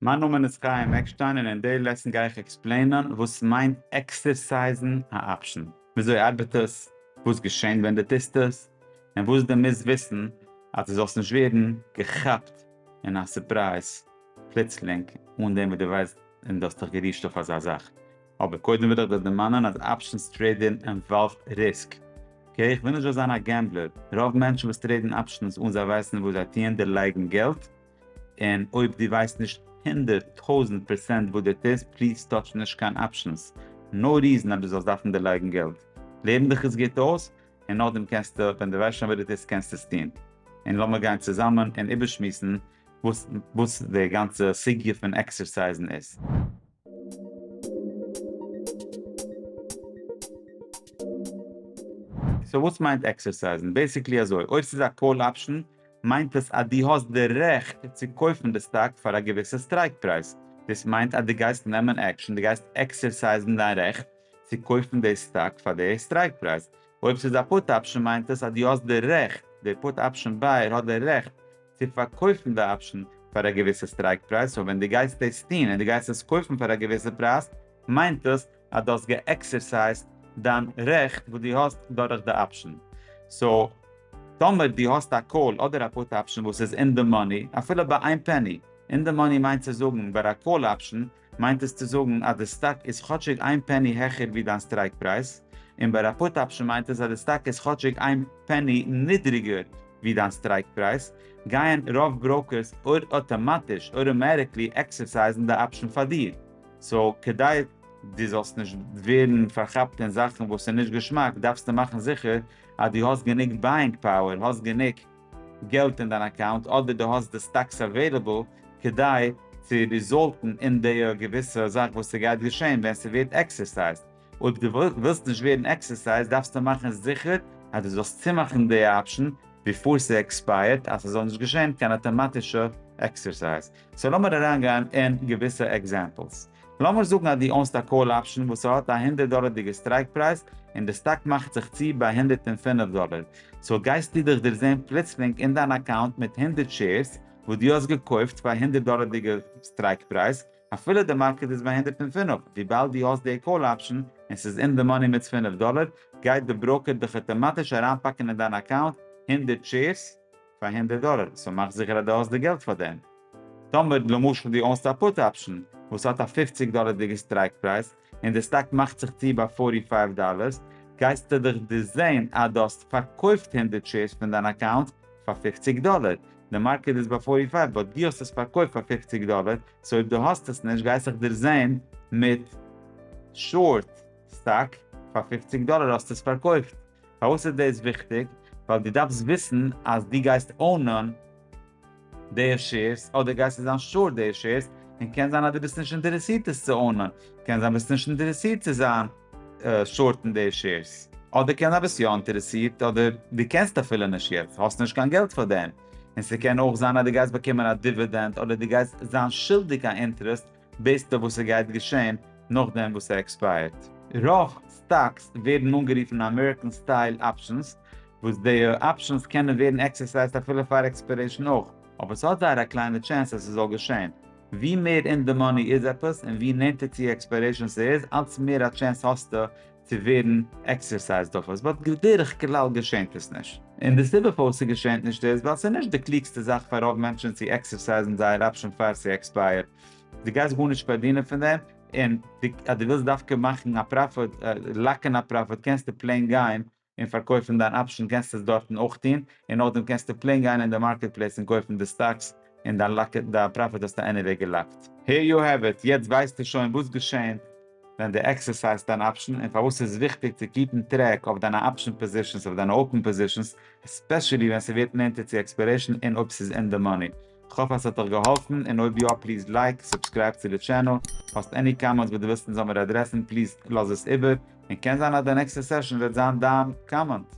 מיין נאמען איז חיים עקשטיין און אין די לעסן גיי איך עקספלעינען וואס מיינט עקסערסייזן א אפשען, וויאזוי ארבעט עס, וואס געשענט ווען די טוסט עס, און וואס די מוזט וויסן אז די זאלסט נישט ווערן געכאפט אין א סורפרייז פלוצלינג אן דעם וואס די ווייסט און די האסט דיך גערישט אויף אזא זאך. אבער קודם וויל איך דיר דערמאנען אז אפשענס טרעידען אינוואלווד ריסק. אקעי איך וויל נישט דא זיין א געמבלער, רוב מענטשן וואס טרעידן אפשענס אן זיי ווייסן וואס זיי טוען דערלייגן געלט, און אויב דו ווייסט נישט הונדערט טויזענט פערסענט וואס דער טעסט פליז טאטש נישט קיין אפשענס, נאו ריזען אז דו זאלסט דארפן דערלייגן געלט, לערן דיך עס גוט אויס און נאכדעם קענסטו ווען דו ווייסט שוין ווער דער טעסט קענסטו עס טון, און לאמיר גיין צוזאמען און איבערשמועסן וואס דער גאנצע סוגיא פון עקסערסייזן איז. סאו וואס מיינט עקסערסייזן? בעסיקלי אזוי, אויב ס'איז א קאל אפשן מיינט עס אז דו האסט די רעכט צו קויפן די סטאק פאר א געוויסע סטרייק פרייז, דאס מיינט אז דו גייסט נעמען עקשן, דו גייסט עקסערסייזן דיין רעכט צו קויפן די סטאק פאר די סטרייק פרייז. אויב ס'איז א פוט אפשן מיינט עס אז דו האסט די רעכט, די פוט אפשן בייער האט די רעכט, צו פארקויפן די אפשן פאר א געוויסע סטרייק פרייז, סאו ווען דו גייסט דאס טון און דו גייסט עס קויפן פאר א געוויסע פרייז מיינט דאס אז דו האסט געעקסערסייזט דיין רעכט וואס דו האסט דורך די אפשן, סאו טאמער דו האסט א קאל אדער א פוט אפשן וואס איז אין די מאני אפילו ביי איין פעני, אין די מאני מיינט צו זאגן ביי א קאל אפשן מיינט עס צו זאגן אז די סטאק איז כאטשיג איין פעני העכער ווי דיין סטרייק פרייז, און ביי א פוט אפשן מיינט עס אז די סטאק איז כאטשיג איין פעני נידריגער ווי דיין סטרייק פרייז, גייען רוב בראוקערס אויטאמאטיש, אויטאמעטיקלי, עקסערסייזן די אפשן פאר דיר. סאו כדי דו זאלסט נישט ווערן פארכאפט אין זאכן וואס איז נישט געשמאק דארפסטו מאכן זיכער אז דו האסט גענוג בייאינג פאוער, האסט גענוג. געלט אין דיין אקאונט אדער דו האסט די סטאקס אוועילעבל כדי צו ריזאלטן אין די געוויסע זאך וואס ס'גייט געשען ווען ס'ווערט עקסערסייזד, אויב דו ווילסט נישט ווערן עקסערסייזד דארפסטו מאכן זיכער אז דו זאלסט צומאכן די אפשן ביפאר ס'עקספייערט אז ס'זאל נישט געשען קיין אטאמאטישע עקסערסייז. סאו לאמיר אריינגיין אין געוויסע עקזעמפלס. לאמיר זאגן אז דו אונסט א קאל אפשן וואס ס'האט א הונדערט דאלערדיגע סטרייק פרייז און די סטאק מאכט זיך צו ביי הונדערט און פֿינף דאלער, סאו גייסטו דיך דערזעהן פלוצלינג אין דיין אקאונט מיט הונדערט שעירס וואס דו האסט געקויפט פאר הונדערט דאלערדיגע סטרייק פרייז אפילו די מארקעט איז ביי הונדערט און פֿינף, וויבאלד דו האסט די קאל אפשן און ס'איז אין די מאני מיט פֿינף דאלער גייט די בראוקער דיך אטאמאטיש אריינפאקן אין דיין אקאונט הונדערט שעירס. פאר הונדערט דאלער, סאו מאך זיכער אז דו האסט די געלט פאר דעם. טאמער למשל דו אונסט א פוט אפשן וואס האט א פֿופֿציק דאלערדיגע סטרייק פרייז און די סטאק מאכט זיך צו ביי פֿארטי פֿייוו דאלערס, גייסטו דאך דא זען אז דו האסט פארקויפט הונדערט שעירס פון דיין אקאונט פאר פֿופֿציק דאלער. די מארקעט איז ביי פֿארטי פֿייוו באט דו האסט עס פארקויפט פאר פֿופֿציק דאלער, סאו אויב דו האסט עס נישט גייסטו דיר זען מיט שארט סטאק פאר פֿופֿציק דאלער האסטו עס פארקויפט. פארוואס איז דאס וויכטיג? ווייל דו דארפסט וויסן אז דו גייסט אונען די שעירס אדער גייסטו זיין שארט די שעירס, און קען זיין אז דו ביסט נישט אינטערעסירט עס צו אונען, קען זיין ביסט נישט אינטערעסירט צו זיין שארטן די שעירס, אדער קען זיין ביסט יא אינטערעסירט אדער דו קענסט אפילו נישט יעצט, האסט נישט קיין געלט פאר דעם, און ס'קען אויך זיין אז דו גייסט באקומען א דיווידענד אדער דו גייסט זיין שולדיג א אינטערעסט וויסט איר וואס ס'גייט געשען נאכדעם וואס ס'עקספייערט? רוב סטאקס ווערן אנגערופן אמעריקען סטייל אפשענס, וואס די אפשענס קענען ווערן עקסערסייזט אפילו פאר עקספיירעישן אויך, אבער ס'האט זייער א קליינע טשענס אז ס'זאל געשען. ווי מער אין די מאני איז עפעס און ווי נענטער צו עקספיירעישן ס'איז, אלץ מער א טשענס האסטו צו ווערן עקסערסייזד אויף עס, באט בדרך כלל געשענט עס נישט. און די סיבה פארוואס ס'געשענט נישט איז ווייל ס'איז נישט די קלוגסטע זאך פאר רוב מענטשן צו עקסערסייזן זייער אפשען פאר ס'עקספייערט, דו גייסט גארנישט פארדינען פון דעם, און אז דו ווילסט דווקא מאכן א פראפיט, לאקן א פראפיט, קענסטו פלעין גיין און פארקויפן דיין אפשן קענסטו עס דארטן אויך טון, און נאכדעם קענסטו פלעין גיין אין די מארקעט פלעיס און קויפן די סטאקס, און דיין לאק דיין פראפיט האסטו עניוועי געלאקט. הער יו העוו איט, יעצט ווייסטו שוין וואס געשעהנט ווען דו עקסערסייזט דיין אפשן, און פארוואס ס'איז וויכטיג צו קיפן טרעק אויף דיינע אפשן פאזישענס אויף דיינע אופן פאזישענס, עספעשעלי ווען ס'ווערט נענטער צו עקספיירעישן און אויב ס'איז אין די מאני. כ'האף אז ס'האט דיך געהאלפן, און אויב יא פליז לייק, סובסקרייב צו די טשענעל, האסט עני קאמענטס וואס דו ווילסט אונז זאל מיר אדרעסן פליז לאז עס איבער, און קען זיין אז די נעקסטע סעשאן וועט זיין דיין קאמענט.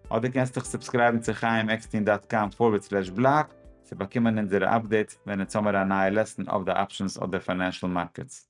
אדער קענסט דיך סובסקרייבן צו חיים עקסטין דאט קאם פארווערד סלעש בלאג צו באקומען אונזערע אפדעיטס ווען אונז האמיר א נייע לעסן אויף די אפשענס אדער פיינענשעל מארקעטס.